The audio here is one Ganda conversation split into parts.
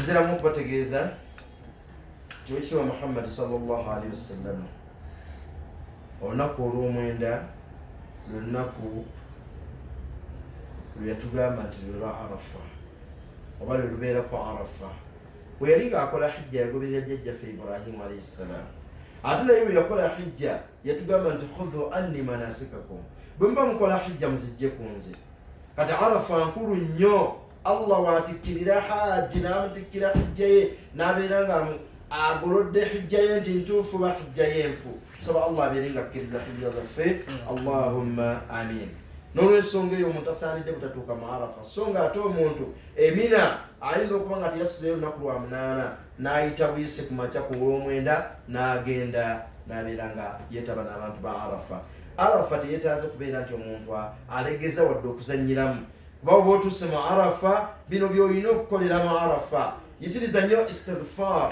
nzira mu kubategeeza tiwekitiwa muhammadi salllah alihi wasallama olunaku olwomwenda lwelunaku lweyatugamba nti lwelwa arafa oba lwelubeera ku arafa weyali ngaakola hijja yagoberera jajjaffe ibrahimu alaihi ssalaamu ate naye weyakola hijja yatugamba nti khudhu anni manasikakum bwemuba mukola hijja muzijje ku nze kati arafa nkulu nnyo allah watikkirira hajji n'amutikkira hijja ye n'abeera nga agolodde hijja ye nti ntuufu ba hijja ye nfu saba allah abeere nga akkiriza hijja zaffe allahumma amin n'olwensonga eyo omuntu asaanidde butatuuka mu arafa so nga ate omuntu emina ayinza okuba nga teyasuzeyo lunaku lwa munaana n'ayita buyise ku makya ku olw'omwenda n'agenda n'abeera nga yeetaba n'abantu ba arafa arafa teyetaaze kubeera nti omuntu alegeza wadde okuzannyiramu kuba oba otuuse mu arafa bino by'olina okukolera mu arafa yitiriza nnyo istigfar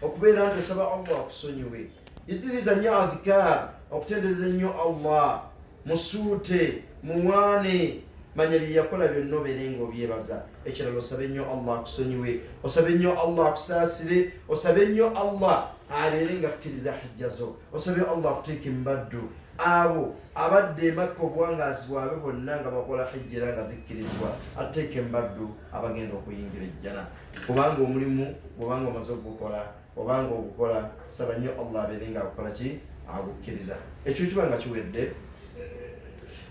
okubeera nti osaba allah akusonyiwe yitiriza nnyo adhikar okutendereza ennyo allah musuute muwaane manya byeyakola byonna obeere nga obyebaza ekirala osabe nnyo allah akusonyiwe osabe nnyo allah akusaasire osabe nnyo allah abeere nga akkiriza hijja zo osabe allah akuteeke mubaddu abo abadde emakka obuwangazi bwabwe bonna nga bakola hijja era nga zikkirizibwa atteeke mubaddu abagenda okuyingira ejjana kubanga omulimu gwobanga omaze okugukola obanga ogukola saba nnyo allah abeere nga agukola ki agukkiriza ekyo kiba nga kiwedde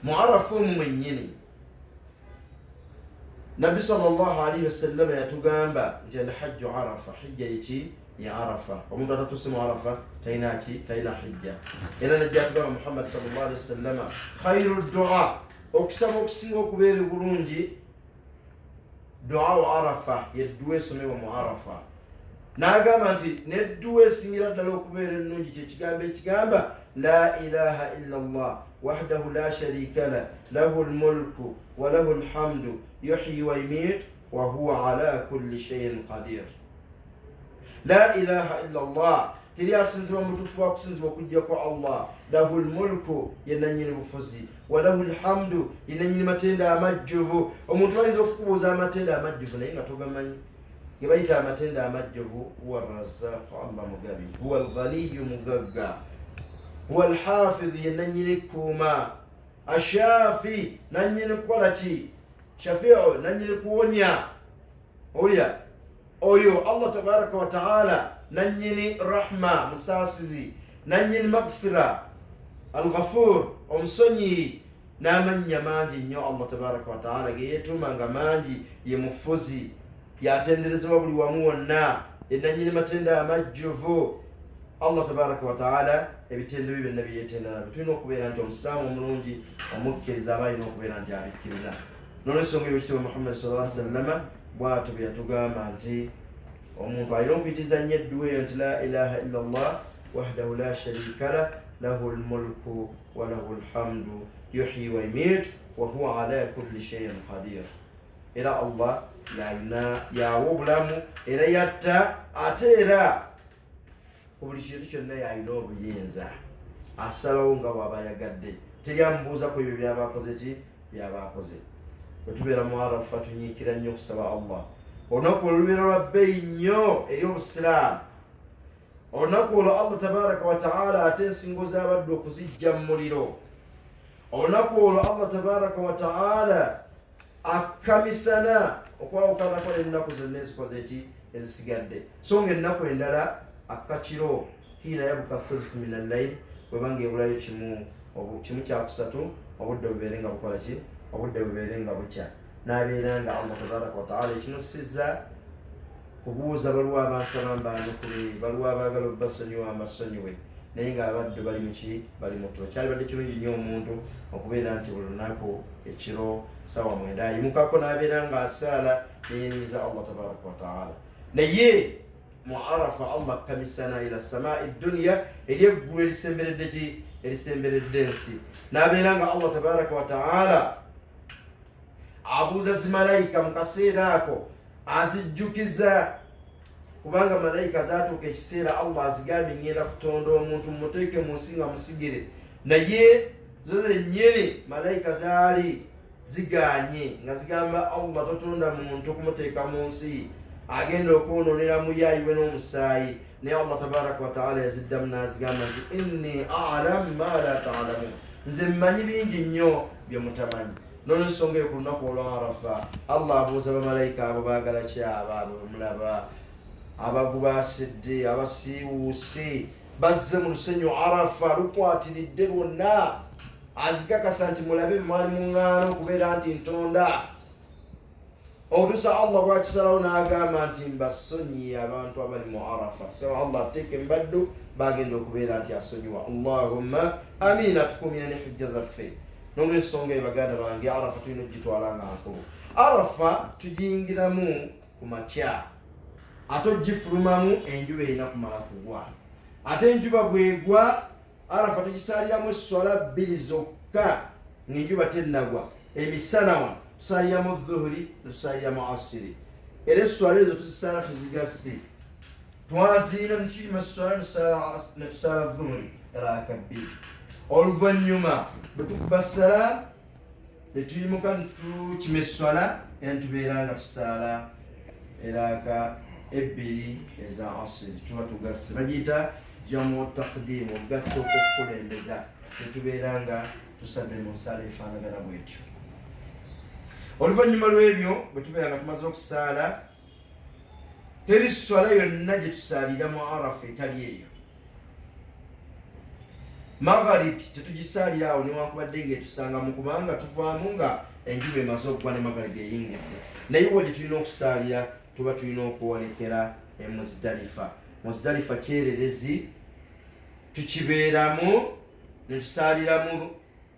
mu arafu omu mwennyini nabbi salllah alaihi wasallama yatugamba nti alhajju arafa hijja eki ya arafa omuntu atatuse mu arafa talina ki talina hijja era najjatugamba muhammadi salllah alihi wasallama khairu dua okusaba okusinga okubeera obulungi duau arafa yedduwa esomebwa mu arafa n'agamba nti nedduwa esingira ddala okubeera ennungi kyekigambo ekigamba la ilaha illa llah wahdahu la sharika la lahu lmulku walahu lhamdu yuhyi waimitu wahuwa ala kulli shaiin qadir la ilaha illa llah teri asinzibwa mutufu wakusinzibwa okujja kwa allah lahu lmulku yenanyini bufuzi walahu lhamdu yenanyini matenda amajjuvu omuntu ayinza okukubuuza amatenda amajjuvu naye nga togamanyi gebayita amatenda amajjuvu huwa razaku allah mugabi huwa lghaniyu mugagga huwa lhafidhu yenanyini kuuma ashafi nanyini kukola ki shafiu nanyini kuwonya owulira oyo allah tabaraka wataala nanyini rahma musaasizi nanyini magfira alghafur omusonyiyi n'amannya mangi nnyo allah tabaraka wataala geyetuuma nga mangi ye mufuzi yatenderezebwa buli wamu wonna enanyini matenda amajjuvu allah tabaraka wataala ebitendo bye byonna byeyetenda nabyo tulina okubeera nti omusiraamu omulungi omukkiriza aba alina okubeera nti abikkiriza nolwensonga ebyo kitibwa muhammad sala sallama bwatyo bwe yatugamba nti omuntu alina okuyitiza nnyo edduwa eyo nti la ilaha illa llah wahdahu la sharika lah lahu lmulku walahu lhamdu yuhyi waimiit wahuwa ala kulli shaiin qadir era allah yalina yawa obulamu era yatta ate era ku buli kintu kyonna yalina obuyinza asalawo nga bwaba ayagadde teri amubuuza ku ebyo byaba akoze ki byaba akoze bwe tubeera mu arafa tunyiikira nnyo okusaba allah olunaku olwo lubeera lwa bbeeyi nnyo eri obusiraamu olunaku olwo allah tabaraka wataala ate ensingo z'abaddu okuzijja mu muliro olunaku olwo allah tabaraka wataala akamisana okwawukanako n'ennaku zonna ezikoze eki ezisigadde so nga ennaku endala akakiro hiina yabuka thulth min allaili webanga ebulayo kimu kimu kyakusatu obudde bubeere nga bukola ki obudde bubeere nga bukya nabeera nga allah tabaraka wataala ekimusiza kubuuza baliwo abansaba mbaanukule baliwo abaagala obbasonyiwa amasonyiwe naye ng'abaddu bali muki bali mutulo kyalibadde kirungi nnyo omuntu okubeera nti buli lunaku ekiro sawa mwenda ayimukako n'abeera ng'asaala neyenyiza allah tabaraka wataala naye mu arafa allah kamisana ila samai dduniya eri eggulu erisemberedde ki erisemberedde ensi n'abeera nga allah tabaraka wataala abuuza zi malayika mu kaseera ako azijjukiza kubanga malayika zatuuka ekiseera allah azigambye ngenda kutonda omuntu mumuteeke mu nsi nga musigire naye zo zenyini malayika zaali ziganye nga zigamba allah totonda muntu kumuteeka mu nsi agenda okwononera muyayiwe n'omusaayi naye allah tabaraka wataala yaziddamu nazigamba nti inni alamu ma la talamun nze mmanyi bingi nnyo bye mutamanyi nolwensonga eyo ku lunaku olwa arafa allah abuuza bamalayika abo baagala ki abaabo bemulaba abagubasidde abasiiwuuse bazze mu lusenyu arafa lukwatiridde lwonna azikakasa nti mulabe bemwali muŋŋaana okubeera nti ntonda otusa allah bwakisalawo n'agamba nti mbasonyiye abantu abali mu arafa tusaba allah ateeke mbaddu bagenda okubeera nti asonyiwa allahumma amin atukumire ne hijja zaffe nolwensonga eyo baganda bange arafa tulina okugitwala nga nkulu arafa tugiyingiramu ku makya ate ogifulumamu enjuba erina kumala kugwa ate enjuba bwegwa arafa tugisaaliramu esswala bbiri zokka ng'enjuba tennagwa emisana wano tusaaliramu dhuhuri netusaaliramu asiri era esswala ezo tuzisaala tuzigasse twaziina netuima esswala netusaala dhuhuri raka bbiri oluvannyuma bwe tukuba salaamu netuyimuka netukima esswala era netubeera nga tusaala eraaka ebbiri eza asiri tuba tugasse bagiyita jamu takdimu ogatta okukulembeza netubeera nga tusadde mu nsaala efaanagana bwetyo oluvannyuma lw'ebyo bwe tubeera nga tumaze okusaala teri swala yonna gye tusaalira mu arafa etali eyo magharibi tetugisaalira awo newankubadde ngaetusangamu kubanga tuvaamu nga enjuba emaze okugwa ne magharibi eyingidde naye wo gye tulina okusaalira tuba tulina okwolekera emuzidalifa muzidalifa kyererezi tukibeeramu netusaaliramu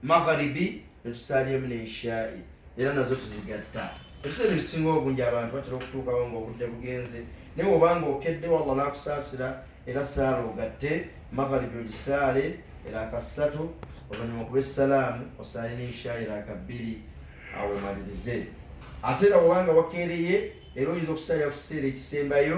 magharibi netusalyamu neishai era nazo tuzigatta ebiseera ebisinga obungi abantu batera okutuukawo nga obudde bugenze naye obanga okedde walla nakusaasira era saala ogatte magharibi ogisaale era akassatu oluvanyuma okuba essalaamu osaale neishai era akabbiri awo omalirize ate era obanga wakeereye era oyinza okusalira ku kiseera ekisembayo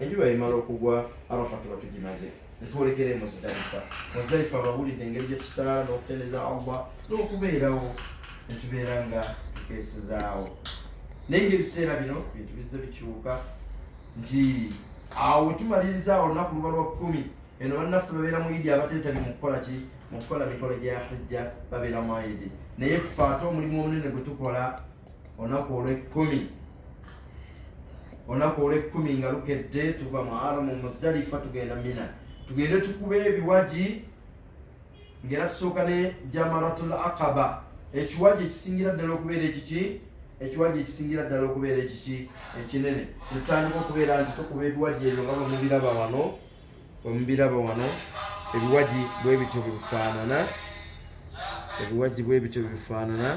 enjuba yemala okugwa arafa tuba tugimaze netwolekera emuzidalifa muzidalifa abawulidde engeri gyetusaala n'okuteneza allah n'okubeerawo netubeera nga tukeesezaawo naye nga ebiseera bino bintu bizze bikyuka nti awo wetumalirizaawo olunaku luba lwa kkumi eno bannaffe babeera mu idi abateetabi mu kukola ki mu kukola mikolo gya hijja babeera mu idi naye ffe ate omulimu omunene gwe tukola olunaku olw'ekkumi olunaku olw'ekkumi nga lukedde tuva mu aramu muzdalifa tugenda mina tugende tukube ebiwagi ngaera tusooka ne jamaratul aqaba ekiwagi ekisingira ddala okubeera ekiki ekiwagi ekisingira ddala okubeera ekiki ekinene netutandika okubeera nti tukuba ebiwagi ebyo nga bamubiraba wano omubiraba wano ebiwaji bwebityo bwebifaanana ebiwaji bwebityo bwebifaanana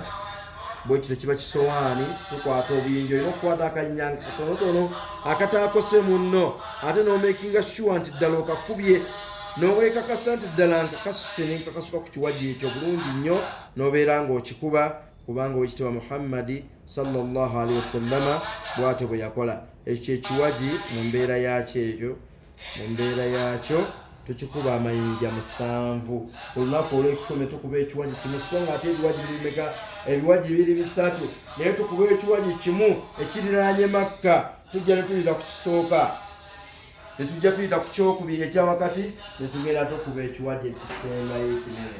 bwekityo kiba kisowaani tukwata obuyinja olina okukwata akanyanga katonotono akataakose munno ate nomakinga sure nti ddala okakubye nowekakasa nti ddala nga kasuse nenkakasuka ku kiwaji ekyo bulungi nnyo nobeera ngaokikuba kubanga owekitiibwa muhammadi salllahalihi wasallama bwatyo bwe yakola ekyo ekiwagi mu mbeera yaakyo eyo mu mbeera yaakyo tukikuba amayinja musanvu olunaku olwekikumi tukuba ekiwagi kimu so nga ate ebiwagi birimeka ebiwagi biri bisatu naye tukuba ekiwagi kimu ekiriranye makka tujja netuyita ku kisooka netujja tuyita ku kyokubiri ekyawakati netugenda tukuba ekiwagi ekisembayo ekinene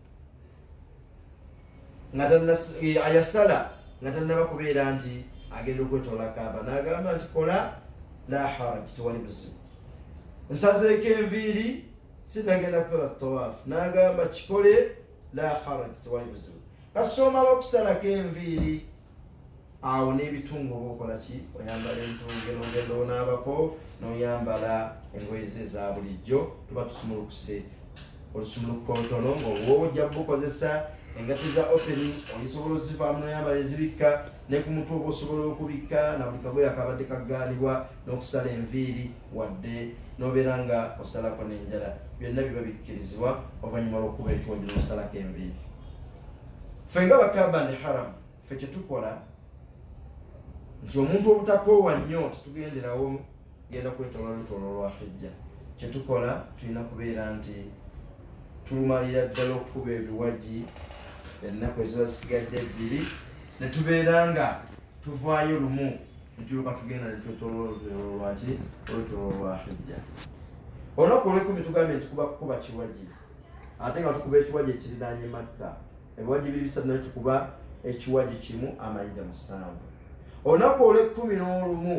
ayasala nga tannaba kubeera nti agenda okwetola kaaba nagamba nti kola la haraj tewali buzibu nsazeeko enviiri sinagenda kukola tawaafu nagamba kikole la haraj tewali buzibu kasita omala okusalako enviiri awo n'ebitungo oba okola ki oyambala entunge nogenda onaabako noyambala engoye ze eza bulijjo tuba tusumulukuse olusumuluko ntono ngaoba ojja kubukozesa engati za openi oyisobola ozivaamu noyambala ezibikka ne ku mutwe oba osobola okubikka na buli kagoye akabadde kagaanibwa n'okusala enviiri wadde nobeera nga osalako n'enjala byonna biba bikkirizibwa oluvannyuma lwokuba ekiwojja nosalako enviiri Ffe nga bakamba ndi haramu ffe kyetukola nti omuntu obutakoowa nnyo tetugenderawo genda kwetolola lutolo lwa hijja kyetukola tulina kubeera nti tulumalira ddala okukuba ebiwagi ennaku eziba zisigadde ebbiri ne tubeera nga tuvaayo lumu netuluka tugenda netwetolola olutolo lwaki olutolo lwa hijja olunaku olwekumi tugambye nti kuba kukuba kiwagi ate nga tukuba ekiwaji ekirinaanye makka ebiwaji biri bisatu naye tukuba ekiwaji kimu amayinja musanvu olunaku olw'ekkumi n'olumu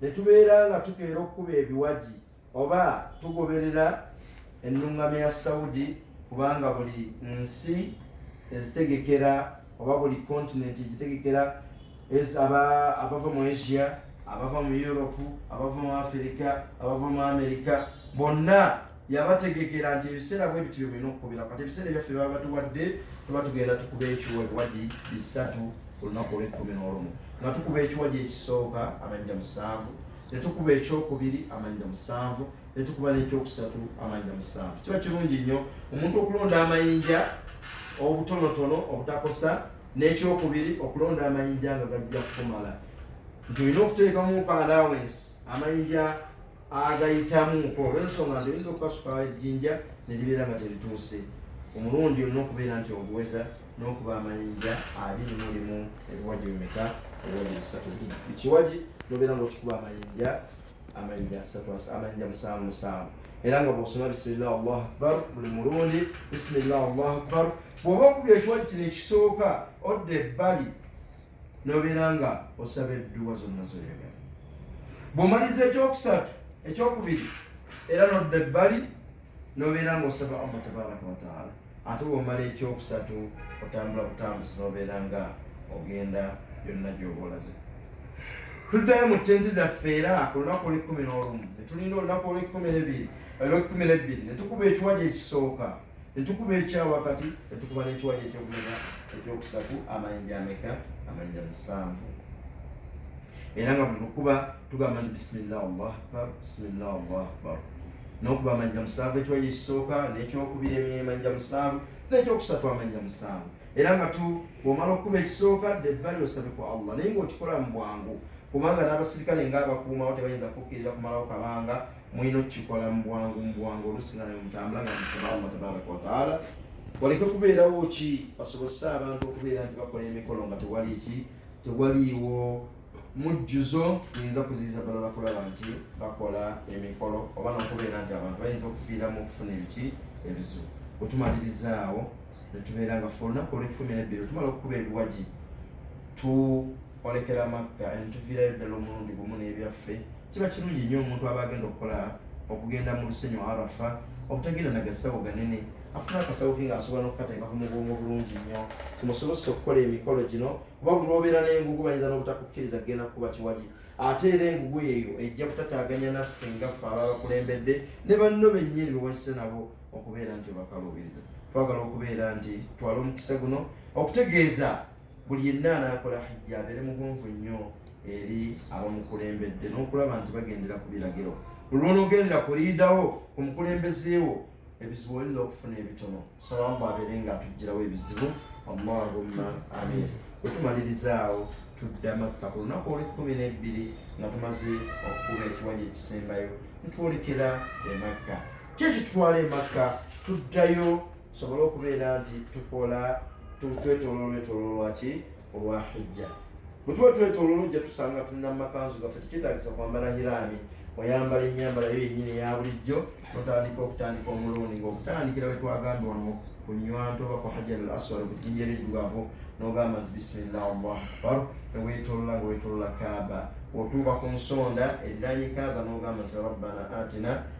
ne tubeera nga tukeera okukuba ebiwaji oba tugoberera ennuŋŋamya ya saudi kubanga buli nsi ezitegekera oba buli kontinenti egitegekera abava mu asia abava mu europe abava mu afirika abava mu amerika bonna yabategekera nti ebiseera bwe bityo byemulina okukubira kati ebiseera ebyaffe baba batuwadde tuba tugenda tukuba ekiwagi bisatu ku lunaku olw'ekkumi n'olumu nga tukuba ekiwagi ekisooka amanyja musanvu ne tukuba ekyokubiri amanyja musanvu ne tukuba n'ekyokusatu amanyja musanvu kiba kirungi nnyo omuntu okulonda amayinja obutonotono obutakosa n'ekyokubiri okulonda amayinja nga gajja kukumala nti olina okuteekamu ka alawensi amayinja agayitamuko olwensonga nti oyinza okukasuka ejjinja ne libeera nga terituuse omulundi olina okubeera nti oguweza n'okuba amayinja abiri mulimu ebiwaji bimeka ebiwaji bisatu ekiwaji nobeera nga okikuba amayinja amayinja asatu amayinja musanvu musanvu era nga bwosoma bisimillah allahu akbar buli mulundi bisimillah allahu akbar bwoba okubya ekiwaji kino ekisooka odda ebbali n'obeera nga osaba edduwa zonna zoyagala bwomaliza ekyokusatu ekyokubiri era nodda ebbali n'obeera nga osaba allah tabaraka wataala ate bwomala ekyokusatu otambula butambuzi n'obeera nga ogenda yonna gyobolaze tuddayo mu tenti zaffe era ku lunaku olwekkumi n'olumu netulinda olunaku olwekkumi nebiri olwekkumi nebbiri netukuba ekiwaja ekisooka ne tukuba ekya wakati ne tukuba n'ekiwayi eky'okumeka ekyokusatu amayinja ameka amayinja musanvu era nga bwetukuba tugamba nti bisimillah allahu akbar bisimillah allahu akbar n'okuba amayinja musanvu ekiwayi ekisooka n'ekyokubiri emyemanja musanvu n'ekyokusatu amayinja musanvu era nga tu bwomala okukuba ekisooka dde ebbali osabe ku allah naye ngaokikola mu bwangu kubanga n'abasirikale ngaabakuumawo tebayinza kukkiriza kumalawo kabanga mulina okukikola mu bwangu mu bwangu oluusi nga nemutambula nga musaba allah tabaraka wataala waleke kubeerawo ki basobozese abantu okubeera nti bakola emikolo nga tewali ki tewaliiwo mujjuzo yinza kuziiza balala kulaba nti bakola emikolo oba nokubeera nti abantu bayinza okufiiramu okufuna ebiki ebizibu wetumalirizaawo netubeera nga fe olunaku olwekumi nebbiri otumala okukuba ebiwagi tuolekera makka entuviirayo ddala omulundi gumu n'ebyaffe Kiba kirungi nnyo omuntu aba agenda okukola okugenda mu lusenyu Arafa obutagenda na gasawo ganene afuna akasawo ke ng'asobola n'okukateeka ku mugongo bulungi nnyo kimusobozesa okukola emikolo gino kuba buli lwobeera n'engugu bayinza n'obutakukkiriza kugenda kukuba kiwagi ate era engugu eyo ejja kutataganya naffe ngaffe ababakulembedde ne banno bennyini bewakise nabo okubeera nti obakaluubiriza twagala okubeera nti twala omukisa guno okutegeeza buli yenna anaakola hijja abeere mugonvu nnyo eri abamukulembedde n'okulaba nti bagendera ku biragiro buli lwonoogendera ku liidawo ku mukulembeze wo ebizibu oyinza okufuna ebitono salamu abeere nga atugirawo ebizibu allahumma amin wetumalirizaawo tudda makka ku lunaku olwekumi n'ebbiri nga tumaze okukuba ekiwanja ekisembayo nitwolekera emakka kyekitutwala emakka tuddayo tusobole okubeera nti tukola twetoloola olwetololwa ki olwa hijja bwe tuba twetoloola ojja tusanga tulina mu makanzu gaffe tekyetagisa kwambala hiraami oyambala enyambala yo yennyini eya bulijjo notandika okutandika omulundi ngaokutandikira wetwagamba ono ku nywanto oba ku hajar al aswad ku jjinja eriddugavu nogamba nti bisimillah allahu akbar newetolola nga wetolola kaaba otuuka ku nsonda eriranye kaaba nogamba nti rabbana atina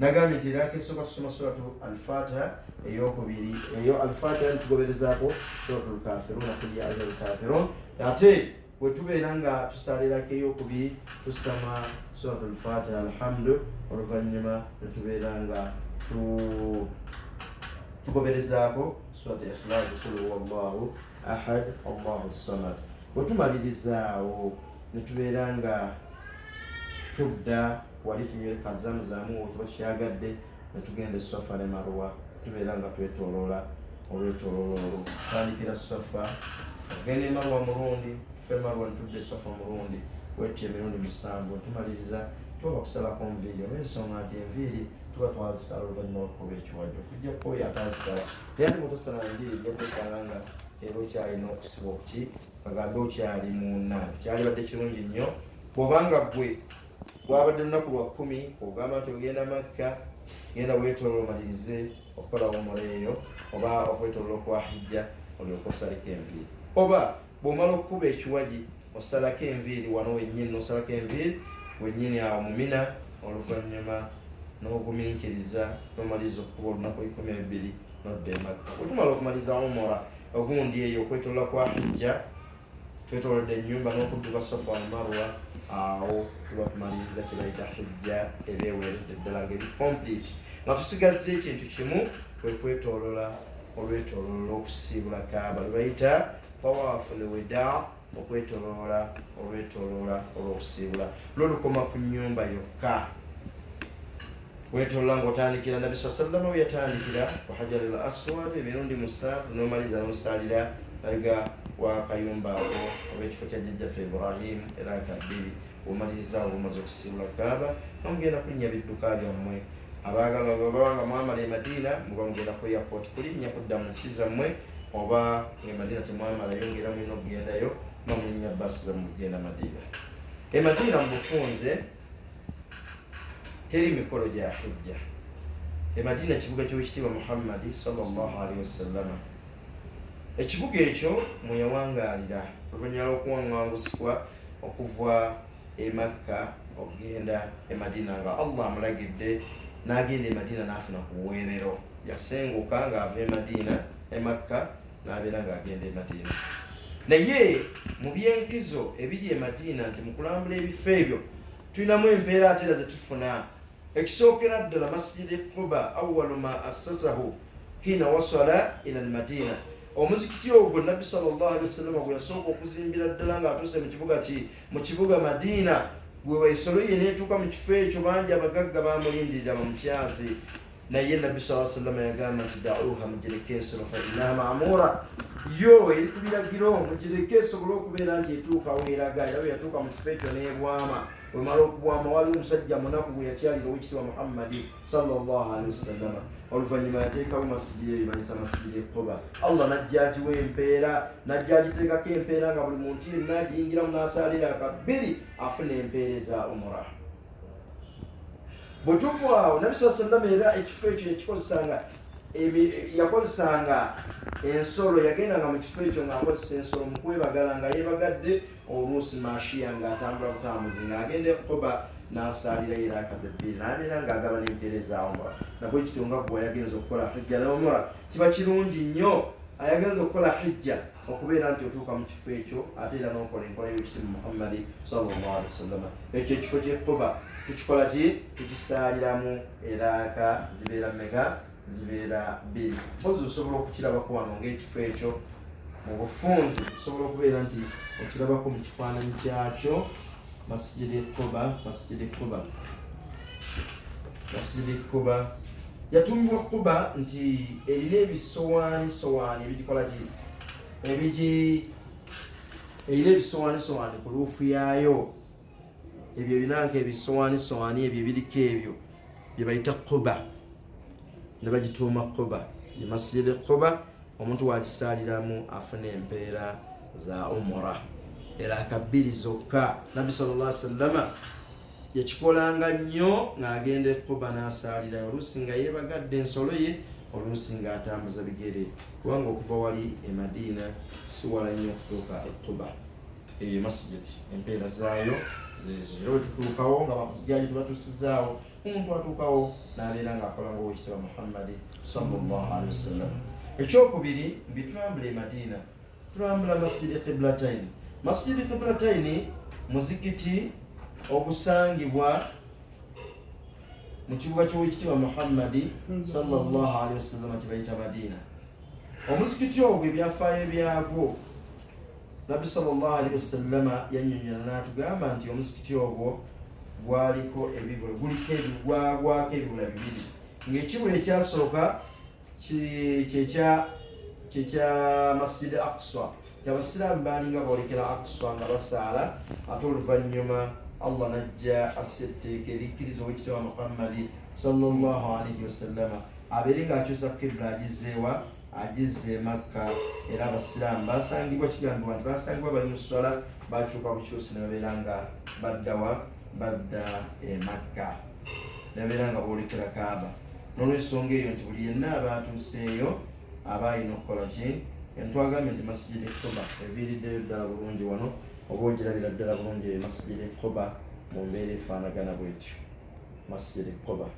nagambye nti eraka esooka tusoma suratu alfatiha eyokubiri eyo alfatiha nitugoberezaako suratu lkafirun akuli ayo lkafirun ate wetubeera nga tusalirako eyokubiri tusama suratu lfatiha alhamdu oluvannyuma netubeera nga tugoberezaako suratu ikhlasi kul huwa llahu ahad allahu samad wetumalirizaawo netubeera nga tudda wali tunywereka zamzamu otuba tukyagadde netugenda esafa ne marwa tubeera nga twetoloola olwetoloola olwo tandikira safa ogenda emarwa mulundi tufe emarwa netudda esafa mulundi wetyo emirundi musanvu tumaliriza tuba kusalako nviiri olwensonga nti enviiri tuba twazisala oluvannyuma lwokukuba ekiwajo kujja kukoyo atazisala naye ati bwetosala enviiri ejja kwesanga nga era okyalina okusiba okuki kagambe okyali muna kyalibadde kirungi nnyo bwobanga gwe wabadde lunaku lwa kkumi ogamba nti ogenda makka genda wetolola omalirize okukola wumula eyo oba okwetolola okwa hijja olyoka osaleko enviiri oba bwomala okukuba ekiwaji osalako enviiri wano wenyini nosalako enviiri wenyini awo mumina oluvanyuma noguminkiriza nomaliza okukuba olunaku ekumi ebbiri nodda emakka otumala okumaliza wumula ogundi eyo okwetolola kwa hijja twetolodde enyumba n'okudduka sofa wamarwa awo tuba tumaliriza kyebayita hijja eba eweredde ddala ngeri complete nga tusigazza ekintu kimu kwekwetolola olwetololo lwokusiibula kaaba lwebayita tawaafu leweda okwetoloola olwetoloola olwokusiibula lwo lukoma ku nyumba yokka wetolola nga otandikira nabi saa sallama weyatandikira ku hajar al aswad emirundi musaafu nomaliza nosaalira ayiga wakayumba ako oba ekifo kya jjajjaffe ibrahim era kabbiri omaliza oba omaze okusiibula kaaba nomugenda kulinnya bidduka byammwe abaagala baba nga mwamala emadiina muba mugenda kweyapoti kulinnya kudda mu nsi zammwe oba emadiina temwamalayo ngaera mulina okugendayo mamulinya basi zamugenda madiina emadiina mubufunze teri mikolo gya hijja emadiina kibuga kyowekitiibwa muhammadi salllah alihi wasallama ekibuga ekyo mweyawangaalira oluvanyuma lwokuwaŋangusibwa okuva emakka okugenda emadiina nga allah amulagidde nagenda emadiina nafuna ku buweerero yasenguka ngaava emadiina emakka n'abeera ng'agenda e madiina naye mu byenkizo ebiri e madiina nti mu kulambula ebifo ebyo tulinamu embeera ate era zetufuna ekisookera ddala masijidi quba awalu ma assasahu hina wasala ila almadiina omuzikiti ogwo nabbi salllahalihi wasallama gwe yasooka okuzimbira ddala ng'atuuse mu kibuga ki mu kibuga madiina gwe waisolo ye neetuuka mu kifo ekyo bangi abagagga baamulindirira bamukyazi naye nabbi saa sallama yagamba nti dauha mugireke ensolo fainaha mamura yo eri ku biragiro mugireke esobole okubeera nti etuuka weeraga era bwe yatuuka mu kifo ekyo n'ebwama wemala okubwama waliwo omusajja munaku gwe yakyalira owekitiibwa muhammadi salllah alihi wasallama oluvannyuma yateekawo masigiri eyo bayita masigiri ekoba allah najja agiwa empeera najja agiteekako empeera nga buli muntu yenna agiyingiramu n'asaalira akabbiri afuna empeereza umura Butuufu awo Nabi saa sallama era ekifo ekyo yakikozesanga yakozesanga ensolo yagendanga mu kifo ekyo ng'akozesa ensolo mu kwebagala nga yeebagadde oluusi maashiya ng'atambula butambuzi ng'agenda ekukoba n'asaalira era akaze ebbiri n'abeera ng'agaba n'empeera ezaawumula nabwe kityo nga gwe ayagenza okukola hijja n'omura kiba kirungi nnyo ayagenza okukola hijja okubeera nti otuuka mu kifo ekyo ate era n'okola enkola y'ekitimu muhammadi sallallahu alaihi wasallama ekyo ekifo kyekuba tukikola ki tukisaaliramu eraaka zibeera mega zibeera bbiri mpozi osobola okukirabako wano ngaekifo ekyo mu bufunzi osobola okubeera nti okirabako mu kifaananyi kyakyo masjidi quba masjidi quba masjidi quba yatumbibwa quba nti erina ebisowaani sowaani ebigikola ki ebigi erina ebisowaani sowaani ku luufu yaayo ebyo ebinanka ebisowaani sowaani ebyo ebiriko ebyo byebayita quba ne bagituuma Quba ye masjidi Quba omuntu wagisaaliramu afuna empeera za umura era akabbiri zokka nabbi sallallahu alaihi wasallama yakikolanga nnyo ng'agenda ekuba n'asaalira oluusi nga yeebagadde ensolo ye oluusi ng'atambuza bigere kubanga okuva wali e madiina siwala nnyo okutuuka ekuba eyo masjid empeera zaayo zezo era wetutuukawo nga bakujjaji tubatusizaawo omuntu atuukawo n'abeera ng'akola ng'owekitibwa muhammadi sallallahu alihi wasallam ekyokubiri mbi tulambula emadiina tulambula masjidi qiblatain masjidi qiblataini muzikiti ogusangibwa mu kibuga ky'owekitibwa muhammadi sallallahu alihi wasallama kye bayita madiina omuzikiti ogwo ebyafaayo byagwo nabbi salllah alihi wasallama yanyonyola natugamba nti omuzikiti ogwo gwaliko ebibula guliko ebigwagwako ebibula bibiri ngaekibula ekyasooka kyekya kyekya masjid aqsa kyabasiraamu baalinga boolekera aqsa nga basaala ate oluvannyuma allah najja assa etteeka erikkiriza owekitiwa muhammadi salllah alaihi wasallama abeere ngaakyusa kibula agizeewa agizze emakka era abasiraamu basangibwa kigambibwa nti basangibwa bali mu sswala bakyuka bukyusi nebabeera nga baddawa badda emakka nebabeera nga boolekera kaaba nolwensonga eyo nti buli yenna abaatuuseeyo aba alina okukola ki entwagambye nti masijidi kuba eviiriddeyo ddala bulungi wano oba ogirabira ddala bulungi eyo masijidi kuba mu mbeera efaanagana bwetyo masijidi kuba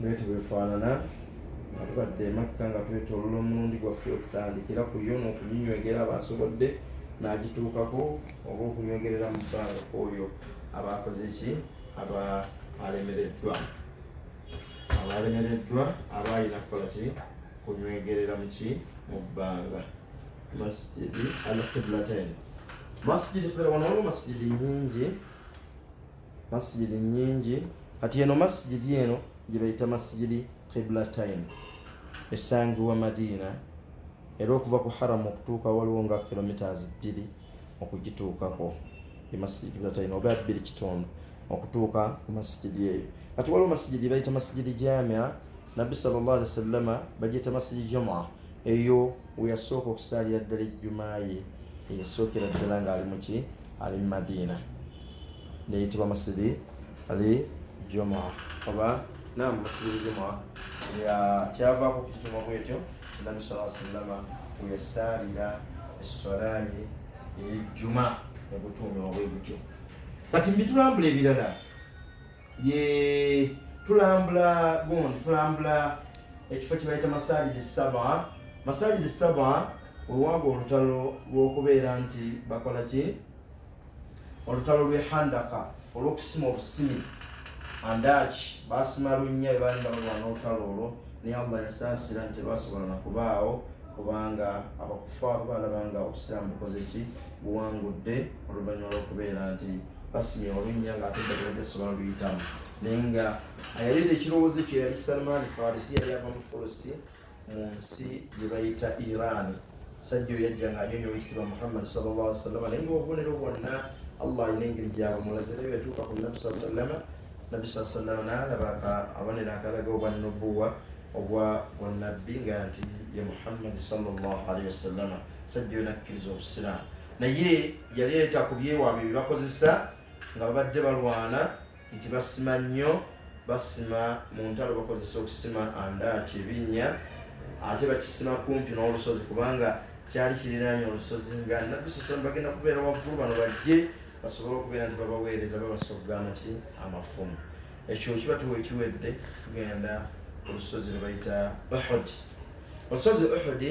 bwetyo bwefaanana nga tubadde emakka nga twetolola omulundi gwaffe okutandikira ku yo n'okunyinywegera abaasobodde n'agituukako oba okunywegerera mu bbanga oyo abaakoze ki abaalemereddwa abalemereddwa abaalina kukola ki kunywegerera muki mu bbanga masjidi alkiblatain masjidi fera wano waliwo masjidi nyingi masijidi nyingi kati eno masijidi eno gyebayita masijidi kibla time esangiwa madiina era okuva ku haramu okutuuka waliwo nga kilometres bbiri okugituukako emasijidi kibla time oba bbiri kitundu okutuuka ku masijidi eyo kati waliwo masijidi bayita masijidi jamia nabbi salllah alihi wasallama bagiyita masijidi juma eyo weyasooka okusaalira ddala ejjumaye eyasookera ddala ng'ali muki ali mu madiina neyitibwa masjidi ali juma oba nam masjidi juma kyavaku kukituma bwetyo nabi saa sallama weyasaalira esswalaye eyejjuma negutuumibwa bwe gutyo kati mbitulambula ebirala ye tulambula gundi tulambula ekifo kyebayita masajidi saba masajidi saba wewaaga olutalo lwokubeera nti bakola ki olutalo lw'e handaka olw'okusima obusimi andaaki baasima lunnya bwe baali nga balwana olutalo olwo naye allah yasaasira nti terwasobola na kubaawo kubanga abakufaaru baalaba nga obusiraamu bukoze ki buwangudde oluvannyuma lw'okubeera nti basimye olunnya ng'ate eddagala lyasobola luyitamu naye nga yaleeta ekirowoozo kye yali salmaani farisi yali ava mu fulusi mu nsi gye bayita Iran. Sajja oyo yajja ng'anyonyola ekitiibwa Muhammad sallallahu alaihi wasallam naye ng'obubonero bwonna Allah alina engeri gyabumulaze naye yatuuka ku Nabbi saa sallama Nabbi saa sallama n'alaba abonero akalaga obwa nubuwa obwa bunnabbi nga nti ye Muhammad sallallahu alaihi wasallam sajja oyo nakkiriza Obusiraamu naye yaleeta ku byewaabwe bye bakozesa nga babadde balwana nti basima nnyo basima mu ntalo bakozesa okusima andaaki ebinnya ate bakisima kumpi n'olusozi kubanga kyali kiriraanye olusozi nga nabbi saa salam bagenda kubeera waggulu bano bajje basobole okubeera nti babaweereza babasogga amaki amafumu ekyo kiba tuwa ekiwedde tugenda olusozi lwebayita uhudi olusozi uhudi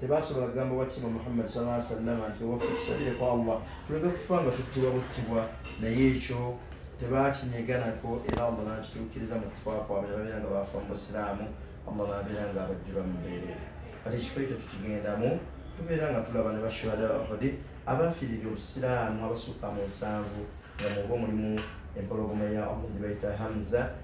tebasobola kugamba wakitiibwa muhammad sala sallama nti owaffe tusabire ku allah tuleke kufa nga tuttibwa buttibwa naye ekyo tebakinyeganako era allah nakituukiriza mu kufa kwabwe nebabeera nga bafa mu busiraamu allah nabeera nga abajjula mu mbeera kati ekifo ekyo tukigendamu tubeera nga tulaba ne bashuhada ahudi abafiirira obusiraamu abasukka mu nsanvu nga muba omulimu empologoma ya allah gyebayita hamza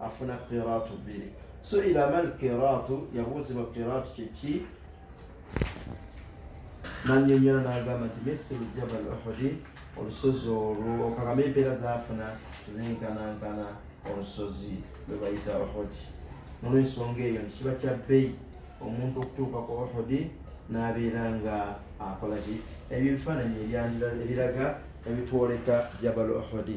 afuna qiraatu bbiri suila mal qiraatu yabuuzibwa qiraatu kyeki nanyonyola nagamba nti mithulu jabal uhudi olusozi olwo okakama empeera zafuna zinkanankana olusozi lwebayita uhudi nolwensonga eyo nti kiba kya bbeyi omuntu okutuuka ku uhudi nabeera nga akolaki ebyo ebifaananyi ebiraga ebitwoleka jabal uhudi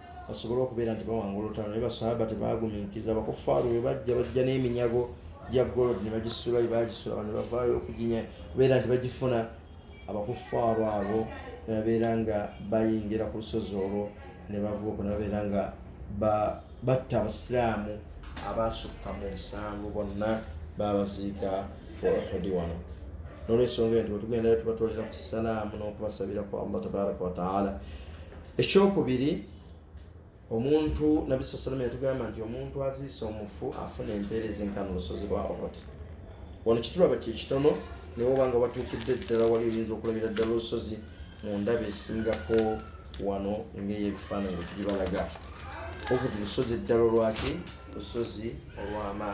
basobole okubeera nti bawanga olutalo naye basahaba tebaguminkiriza abakufaaru bwe bajja bajja n'eminyago gya gold ne bagisula bye bagisula abantu bavaayo okuginya kubeera nti bagifuna abakufaaru abo ne babeera nga bayingira ku lusozi olwo ne bavuuko ne babeera nga batta abasiraamu abaasukka mu nsanvu bonna baabaziika olwahudi wano nolwensonga enti wetugendayo tubatolera ku salaamu n'okubasabira ku allah tabaraka wataala ekyokubiri omuntu nabbi saa salama yatugamba nti omuntu aziisa omufu afuna empeereza enkana olusozi lwa ohoti wano kitulaba kyekitono naye obanga watuukidde ddala wali oyinza okulabira ddala olusozi mu ndaba esingako wano ngaeyebifaananyi bwetulibalaga okuti lusozi eddala olwaki lusozi olw'amaani